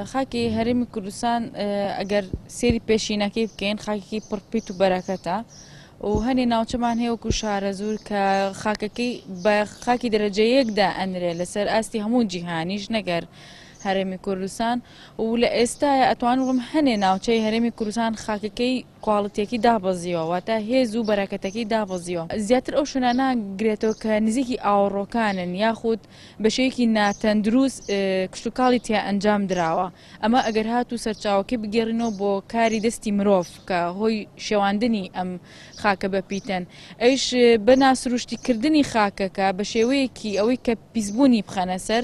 خاکی هەرێمی کوردستان ئەگەر سێری پێشینەکەی بکەین خاکێکی پڕپیت و بەرەکەتە و هەنێ ناوچەمان هەیەوەکو شارەزور کە خاکەکەی بە خاکی دەرەجەیەکدا ئەنرێ لەسەر ئاستی هەموو جیهانیش نەگەر هەرێمی کوردستان و لە ئێستاە ئەتوان وڵم هەنێ ناوچەی هەرێمی کوردستان خاکەکەی کواڵیتیەکەی دابەزیوە واتە هێز و بەراکەتەکەی دابەزیوە زیاتر ئەو شوێنانە ناگرێتەوە کە نزیکی ئاوەڕۆکانن یاخود بەشێوەیەکی ناتەندروست کشتوکاڵی تیا ئەنجام دراوە ئەمە ئەگەر هاتوو سەرچاوەکەی بگێڕینەوە بۆ کاری دەستی مرۆڤ کە هۆی شێواندنی ئەم خاکە بە پیتەن ئەویش بە ناسروشتی کردنی خاکەکە بە شێوەیەکی ئەوەی کە پیسبوونی بخەنە سەر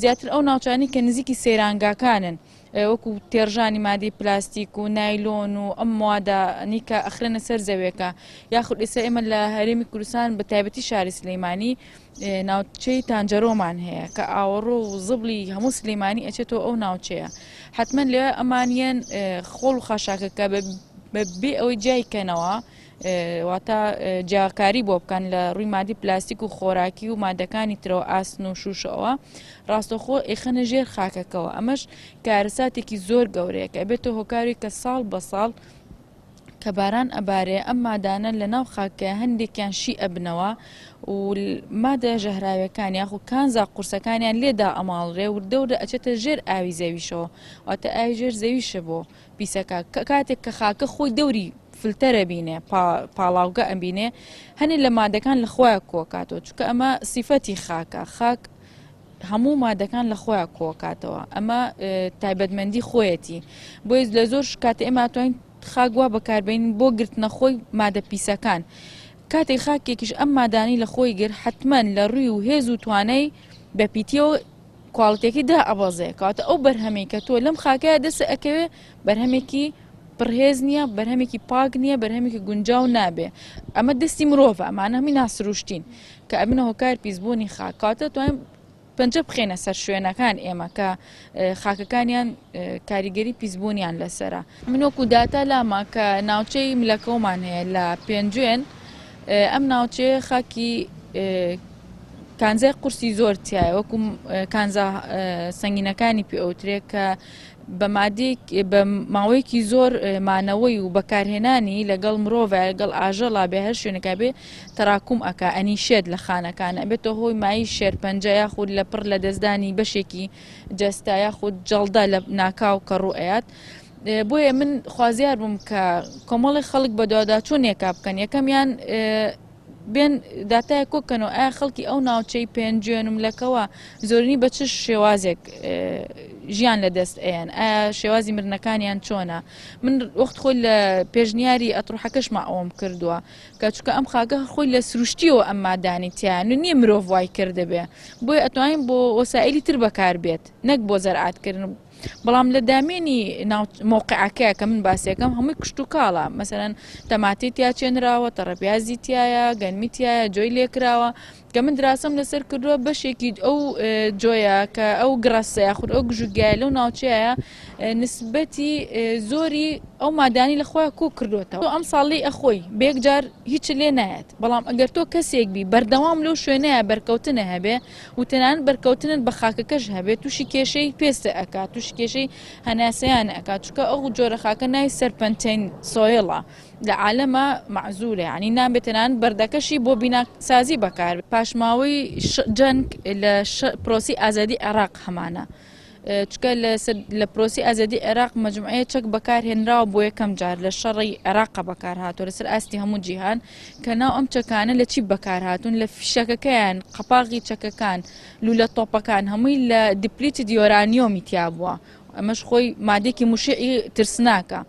زیاتر ئەو ناوچانی کە نزیکی سەیرانگاکانن وەکو تێڕژانی مادەی پلاستیک و نایلۆن و ئەم موادە نیکە ئەخرێنە سەر زەوێکە یاخود ئێستا ئێمە لە هەرێمی کوردستان بە تایبەتی شاری سلەیمانی ناوچەی تانجەرۆمان هەیە کە ئاوەڕۆ و زبلی هەموو سلەیمانی ئەچێتەوە ئەو ناوچەیە حتمما لێ ئەمانیان خۆڵ و خاشاکەکە بە بێ ئەوەی جیای کەنەوە واتە جیاکاری بۆ بکەن لە ڕووی مادی پلاستیک و خۆراکی و مادەکانی ترەوە ئاسن و شوشەوە ڕاستەخۆ ئێخەنە ژێر خاکەکەەوە ئەمەش کارەساتێکی زۆر گەورەیە کە بێتە هۆکاری کە ساڵ بە ساڵ کە باران ئەبارێ ئەم مادانە لە ناو خاکە هەندێکیان شی ئەبنەوە و مادە ژەهراوەکان یاخو کانزا قورسەکانیان لێدا ئەماڵرێ و دەورە ئەچێتە ژێر ئاوی زەویشەوە واتە ئاوی ژێر زەویشە بۆ پیسەکە کاتێک کە خاکە خۆی دەوری فلتەرە بینێ پاڵاوگە ئەبینێ هەنێ لە مادەکان لە خۆیان کۆکاتەوە چکە ئەمە سیفەتی خاکە خاک هەموو مادەکان لە خۆیان کۆکاتەوە ئەمە تایبەتمەندی خۆیەتی بۆی لە زۆر شکات ئێمە توانین خاک وا بەکاربین بۆ گرتنە خۆی مادە پیسەکان کاتێک خاکێکیش ئەم مادانی لە خۆی گر حتمما لە ڕوی و هێز و توانای بەپیتیەوە کواڵتیەکەی دائەبەزێ کەواتە ئەو بەرهەمەی کە تۆ لەم خاکەیە دەست ئەکەوێ بەرهەمێکی پڕهێز نییە بەرهەمێکی پاک نییە بەرهەمێکی گونجاو نابێ ئەمە دەستی مرۆڤ ئەمانە هەمی ناسروشتین کە ئەمنە هۆکار پیسبوونی خاکاتە توانین پەنجە بخێنە سەر شوێنەکان ئێمە کە خاکەکانیان کاریگەری پیسبوونیان لەسرە منۆک و داتا لاما کە ناوچەی ملەکەومان هەیە لە پێنجوێن ئەم ناوچەیە خاکی کانزای قورسی زۆر تایە وەکو کانزا سنگینەکانی پێ ئەوترێ کە بە مادێک بە ماوەیەکی زۆر مانەوەی و بەکارهێنانی لەگەڵ مرۆڤ لەگەڵ ئاژەڵا بێ هەر شوێنەکە بێ تەراکوم ئەک ئەنی شێت لە خانەکانە بێتە هۆی مای شێرپەنجە یاخود لە پڕ لە دەستدانی بەشێکی جەستا یاخود جەڵدا لە ناکاو کە ڕوئات بۆیە من خوازیار بووم کە کۆمەڵی خەڵک بە دواداچوونێکا بکەن یەکەمیان بێن داتای کۆکەنەوە ئایا خەڵکی ئەو ناوچەی پێنجێن و لەکەوە زۆرنی بە چ شێوازێک ژیان لە دەست ئەیان ئایا شێوازی مرنەکانیان چۆنا من وەخت خۆی لە پێشنیاری ئەتڕحەکەشما ئەوم کردووە کە چکە ئەم خاگە خۆی لە سروشتیەوە ئەم مادانی تیان و نییە مرۆڤ وای کردبێ بۆی ئەتوانین بۆ وەسائلی تر بەکار بێت نەک بۆ زەرعاتکردن بەڵام لە دامێنی مۆقعەکە کە من باسیەکەم هەمووی کشت و کاڵە مەسەرەن تەماتی تیا چێنراوە تەڕەپیازی تایە گەنمی تایە جۆی لێکراوە کە من دراسم لەسەر کردووە بەشێکی ئەو جۆیە کە ئەو گڕەسە یاخود ئەو گژوگیای لەو ناوچەیە نسبەتی زۆری ئەو مادانی لەخوا کۆ کردوێتەوە ئەم ساڵی ئەخۆی بێکجار هیچ لێ نایەت بەڵام ئەگەر تۆ کەسێک بی بەردەوام لەو شوێنەیە بەرکەوتنە هەبێ و تەنانەت بەرکەوتنت بە خاکەکەش هەبێت توشی کێشەی پێست ئەکات توشی کێشەی هەناسەیان ئەکات چکە ئەو جۆرە خاکە ناوی سەرپەنتین سۆیڵە لە عالەمە معزولە ینی نابێت تەنانەت بەردەکەشی بۆ بینا سازی بەکار پاشماوەی جەنگ لە پرۆسی ئازادی عێراق هەمانە. چونکە لە پرۆسی ئازادی عێراق مەجموعەیە چەک بەکارهێنراوە بۆ یەکەم جار لە شەڕی عێراق بەکارهاتوە لەسەر ئاستی هەموو جیهان کە ناو ئەم چەکانە لە چی بەکارهاتون لە فیشەکەکەیان قەپاغی چەکەکان لولە تۆپەکان هەمووی لە دیپلیتی دیۆرانیۆمی تیا بووە ئەمەش خۆی مادێکی مشعی ترسناکە.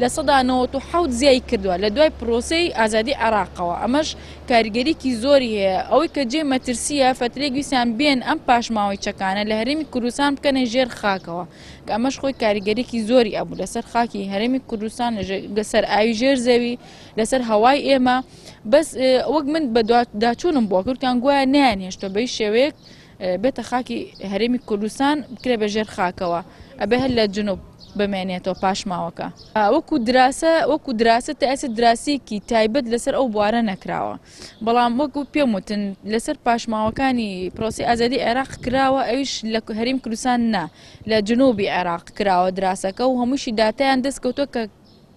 لە سەدا نەوەت و حەوت زیای کردوە لە دوای پرۆسەی ئازادی عێراقەوە ئەمەش کاریگەریکی زۆری هەیە ئەوەی کە جێی مەترسیە فەترێک ویسان بێن ئەم پاشماوەی چەکانە لە هەرێمی کوردستان بکەنە ژێر خاکەوە کە ئەمەش خۆی کاریگەریکی زۆری ئەبوو لەسەر خاکی هەرێمی کوردستان لەسەر ئاوی ژێر زەوی لەسەر هەوای ئێمە بەس وەک من بە داچوونم بۆ کورتان گوایە نیان هێشتە بەی شێوەیەک بێتە خاکی هەرێمی کوردستان بکرێ بە ژێر خاکەوە ئەبێ هەر لە جنوب بمێنێتەوە پاشماوەکە وەکو دراسە وەکو دراسە تا ئێستا دراسیکی تایبەت لەسەر ئەو بوارە نەکراوە بەڵام وەکو پێم وتن لەسەر پاشماوەکانی پرۆسی ئازادی عێراق کراوە ئەویش لە هەریم کوردستان نا لە جنوبی عێراق کراوە دراسەکە و هەمووشی داتیان دەستکەوتۆ کە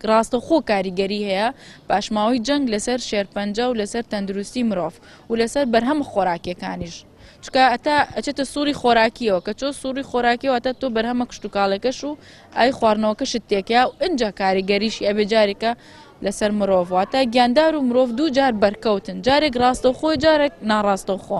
ڕاستەوخۆ کاریگەری هەیە پاشماوەی جەنگ لەسەر شێرپەنجە و لەسەر تەندروستی مرۆڤ و لەسەر بەرهەمە خۆراکیەکانیش چکە ئەتا ئەچێتە سوڕی خۆراکیەوە کە چۆ سوڕی خۆراکیەوە تا تۆ بەرهەمە کشتتوکاڵەکەش و ئای خواردنەوەکەشت تێکیا و ئەجا کاریگەریشی ئەبێ جارێکە لەسەر مرۆڤ واتە گیاندار و مرۆڤ دوو جار بەرکەوتن جارێک ڕاستەوخۆ جارێک ناڕاستەوخۆ